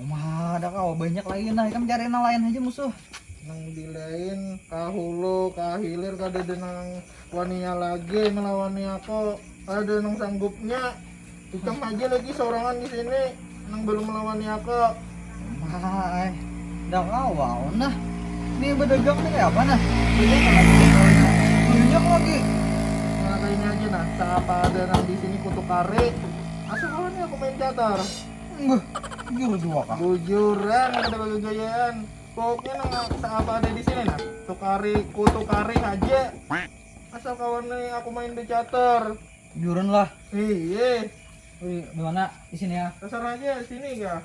Uma ada kau banyak lagi nah ikam cari nang lain aja musuh. Nang dilain kahulu kahilir kada ada nang wania lagi melawani aku. Ada nang sanggupnya. Ikam aja lagi sorangan di sini nang belum melawani aku. Hai, dah kawa nah. Ini berdagang nih apa nah? Banyak lagi. Banyak lagi. Nah, kayaknya aja nah, siapa ada nang di sini kutukari. Asal kawan aku main catur. Beuh jujur jua kah. Bujuran kada bagagayaan. Pokoknya nang seapa ada di sini nah, tukari kutukari haja. Asal kawan ni aku main becatur. Bujuran lah. Hii. Wih, dimana? Di sini ya. Terserah aja, sini kah.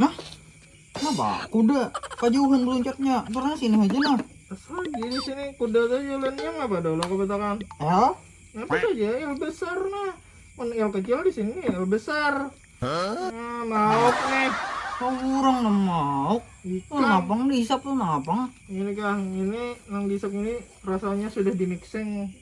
Nah, kenapa kuda kajauhan meluncatnya? Karena sini aja nah. Asal gini sini kuda tuh jalannya nggak pada lo kebatakan. L? Apa saja L besar nah. Kan L kecil di sini L besar. Hah? Nah, mauk nih. Kau orang nang mauk. Ikan. Napang dihisap tuh napang. Ini kang, ini nang dihisap ini rasanya sudah dimikseng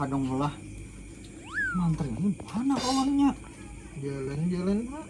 Hadunglah. Mantri ini mana kawannya? Jalan-jalan pak.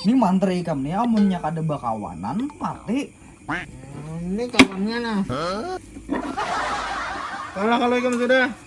Ini mantri ikam nih amunnya kada bakawanan mati. Ini kawannya nah. Kalah kalau ikam sudah.